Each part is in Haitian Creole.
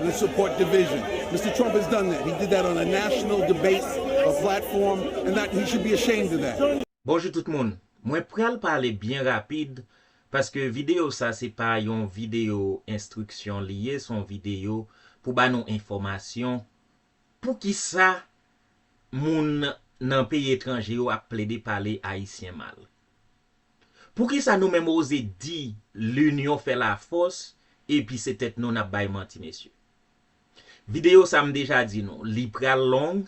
Let's support division. Mister Trump has done that. He did that on a national debate or platform and that he should be ashamed of that. Bonjou tout moun, mwen pral pale byen rapid paske videyo sa se pa yon videyo enstriksyon li ye son videyo pou ba nou enfòmasyon poukisa moun nan peyi etranje yo ap plede pale ayisyen mal. Poukisa nou menm oze di l'union fait la force epi se tèt nou nap bay manti mesye. Video sa m deja di nou li pral long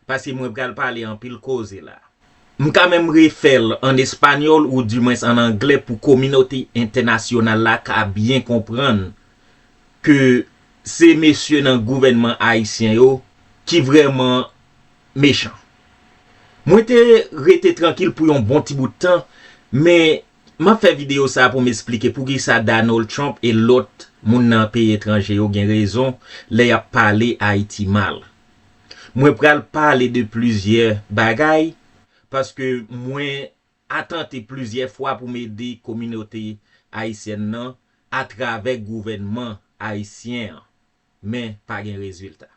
paske mwen pral pale anpil koze la. M ka menm refè l an espanyòl ou di mwens an anglè pou kominote entènasyonal la ka byen konprann ke se mesye nan gouvènman ayisyen yo ki vrèman mechan. Mwen te rete trankil pou yon bon ti bout tan, men map fè video sa pou m esplike poukisa Donald Trump e lòt moun nan peyi etranje yo gen rezon lè yap pale Ayiti mal. Mwen pral pale de plizyè bagay paske mwen atante plizyè fwa pou m ede kominote ayisyèn nan atravè gouvènman ayisyen an, men pa gen rezilta.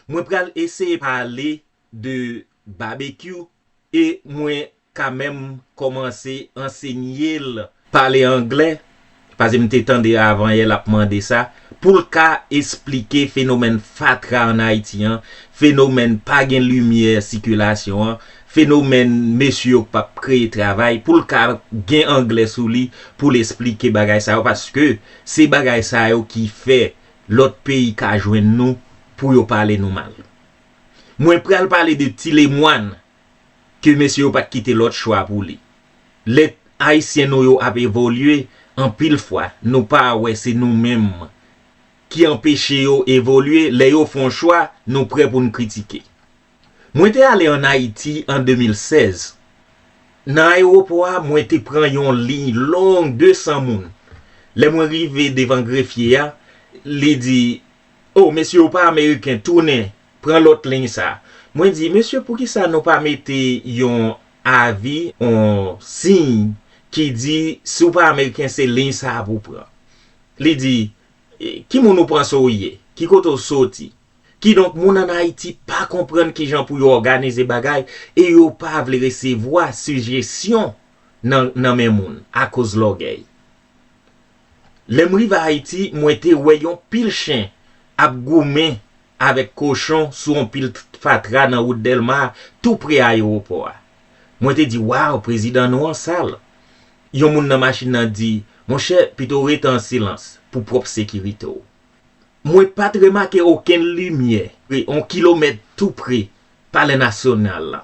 Mwen pral eseye pale de babekyou e mwen ka menm kòmanse ansenye l pale anglè pase m te tande avanyè l ap mande sa pou l ka esplike fenomèn fatra an Ayiti an, fenomèn pa gen limyè sikilasyon an, fenomèn mesye yo k p ap kreye travay pou l ka gen anglè sou li pou l esplike bagay sa yo paske se bagay sa yo ki fè Lòt peyi ka jwenn nou pou yo pale nou mal. Mwen pral pale de ti lemwàn ke mesye yo pat kite lòt chwa pou li. Lè Ayisyen nou yo ap evolye, anpil fwa nou pa wè se nou menm ki anpeche yo evolye, lè yo fon chwa nou prè pou n kritike. Mwen te ale an Ayiti an 2016. Nan ayewopò a, mwen te pran yon liy long 200 moun. Lè mwen rive devan grefye a, li di, O, mesye ou pa Ameriken, tounen, pran lòt liy sa. Mwen di, Mesye, poukisa nou pa mete yon avi, yon siy ki di, si w pa Ameriken, se liy sa a pou w pran? Li di, Ki moun ou panse w ye? Ki kote w soti? Kidonk moun an Ayiti pa konprann kijan pou yo òganize bagay e yo pa vle resevwa sijesyon nan men moun akoz lògèy. Lè m rive Ayiti, mwen te wè yon pil chen ap goumen avèk kochon sou yon pil fatra nan wout Dèlma a tou pre ayewopò a. Mwen te di, Waw, prezidan nou an sal! Yon moun nan machin nan di, Monchè, pito w rete an silans pou pwòp sekirite w. mwen pa t remake okenn limyè pre yon kilomèt tou pre Palè Nasyonal la.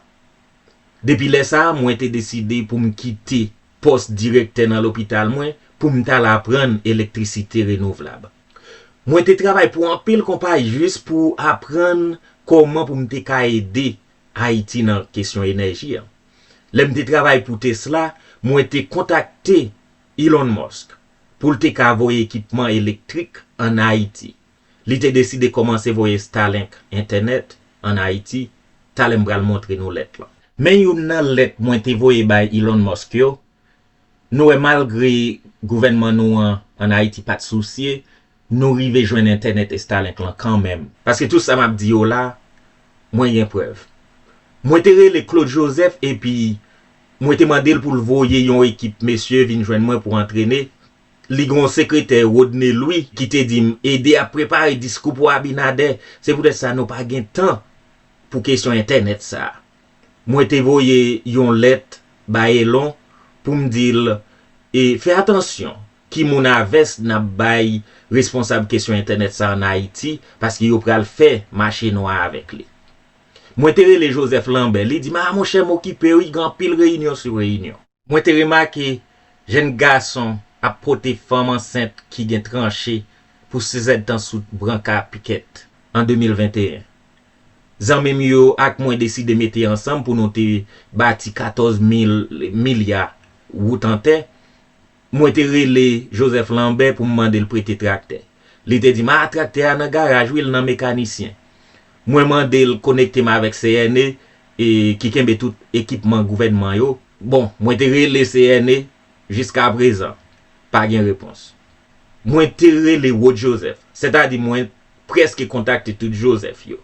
Depi lè sa a, mwen te deside pou m kite pòs direktè nan lopital mwen pou m t al aprann elektrisite renouvlab. Mwen te travay pou anpil konpayi jis pou aprann kòman pou m te ka ede Ayiti nan kesyon enèji a. Lè m te travay pou Tesla, mwen te kontakte Elon Musk. pou l te ka voye ekipman elektrik ann Ayiti. Li te deside kòmanse voye Starlink, entènèt, ann Ayiti, talè m pral montre nou lèt lan. Men youn nan lèt mwen te voye bay Elon Musk yo, nou wè malgre gouvènman nou an ann Ayiti pa t sousye, Nou rive jwenn entènèt estalink lan kanmenm. Paske tout sa map di yo la mwen gen prèv. Mwen te rele Claude Joseph epi Mwen te mandel poul voye yon ekip mesye vin jwenn mwen pou antrene, li gen yon sekretè Rodney Louis ki te dim ede ap prepare diskou pou Abinadè, se poutèt sa nou pa gen tan pou kesyon entènèt sa. Mwen te voye yon lèt bay Elon poum dil e fè atansyon Ki moun a vès nap bay responsab kesyon entènèt sa an Ayiti paske yo pral fè mache nwa avèk li. Mwen te rele Joseph Lambert, li di m a monchè m okipe wi gen anpil reyinyon sou reyinyon. Mwen te remake jenn gason ap pote fanm ansent ki gen tranche pou sizèdtan sou branka pikèt an 2021. Zanmi m yo ak mwen deside mete ansanm pou nou te bati 14 mil milya wout an tè Mwen te rele Joseph Lambert pou m mande l prete traktè. Li te di m, a traktè a nan garaj wi, l nan mekanisyen. Mwen mande l konekte m avèk CNE ki kenbe tout ekipman gouvènman yo. Bon, mwen te rele CNE, jiskaprezan, pa gen repons. Mwen te rele Rod Joseph, sètadi mwen prèske kontakte tout Joseph yo.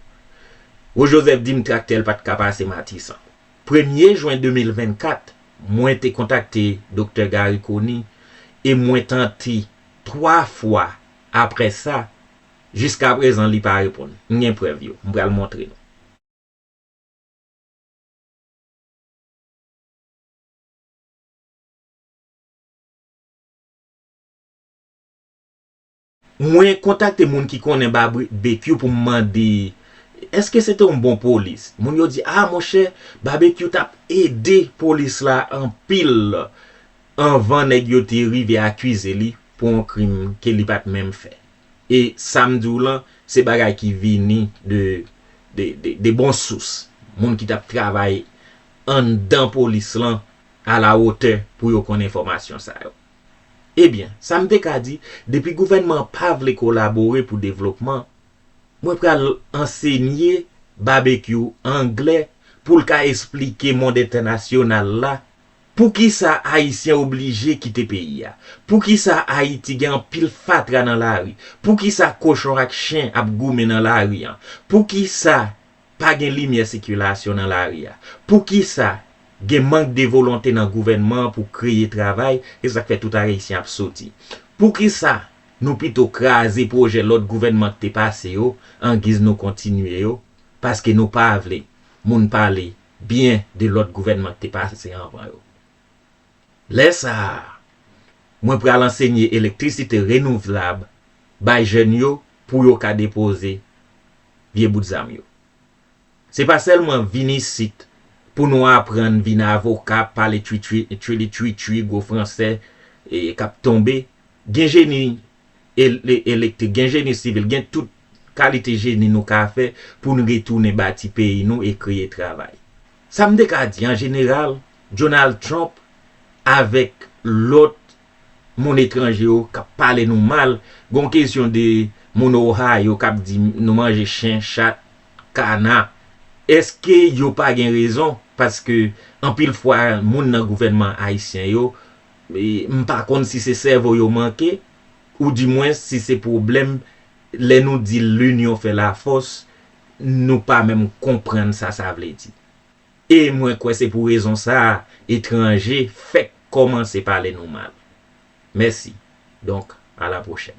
Rod Joseph di m traktè l pa t ka pase Matisan. Premye Jwen 2024, mwen te kontakte Doktè Garry Conille e mwen tante 3 fwa apre sa, jiskaprezan li pa reponn. M gen prèv yo, m pral montre nou. Mwen kontakte moun ki konnen Babekyou pou m mande èske se te yon bon polis. Moun yo di a monchè, Babekyou t ap ede polis la anpil anvan nèg yo te rive akize li pou yon krim ke li pa t menm fè. E sa m di w lan, se bagay ki vini de bon sous, moun ki t ap travay anndan polis lan alawotè pou yo konn enfòmasyon sa yo. Ebyen, sa m te ka di, depi gouvènman an pa vle kolabore pou devlopman, mwen pral ansenye Babekyou angle pou l ka esplike mond entènasyonal la poukisa Ayisyen oblije kite peyi a, poukisa Ayiti gen anpil fatra nan lari, poukisa kochon ak chen ap goumen nan lari an, poukisa. Pa gen limyè sikilasyon nan lari a. Poukisa gen mank de volonte nan gouvènman an pou kreye travay, se sa k fè tout Arayisyen ap soti. Poukisa nou pito kraze pwojè lòt gouvènman k te pase yo angiz nou kontinye yo, paske nou pa vle moun pale byen de lòt gouvènman k te pase anvan yo. Lè sa a, mwen pral ansenye elektrisite renouvlab bay jèn yo pou yo ka depoze vye bout zam yo. Se pa sèlman vin isit pou nou aprann vin avoka, pale tchwilitchwitchwi gwo fransè k ap tonbe. Gen jeni elektrik, gen jeni sivil, gen tout kalite jeni nou ka fè pou n retounen bati peyi nou e kreye travay. Sa m te ka di an jeneral, Donald Trump avèk lòt moun etranje yo kap pale nou mal, gon kesyon de moun Ohio kap di nou manje chen, chat, kana, eske yo pa gen rezon paske anpil fwa moun nan gouvènman ayisyen yo m pa konn si se sèvo yo manke ou di mwens si se pwoblèm lè nou di linyon fè lafòs nou pa menm konprann sa sa vle di. E mwen kwè se pou rezon sa a etranje fèk kòmanse pale nou mal. Mèsi. Donk, a la pwochèn.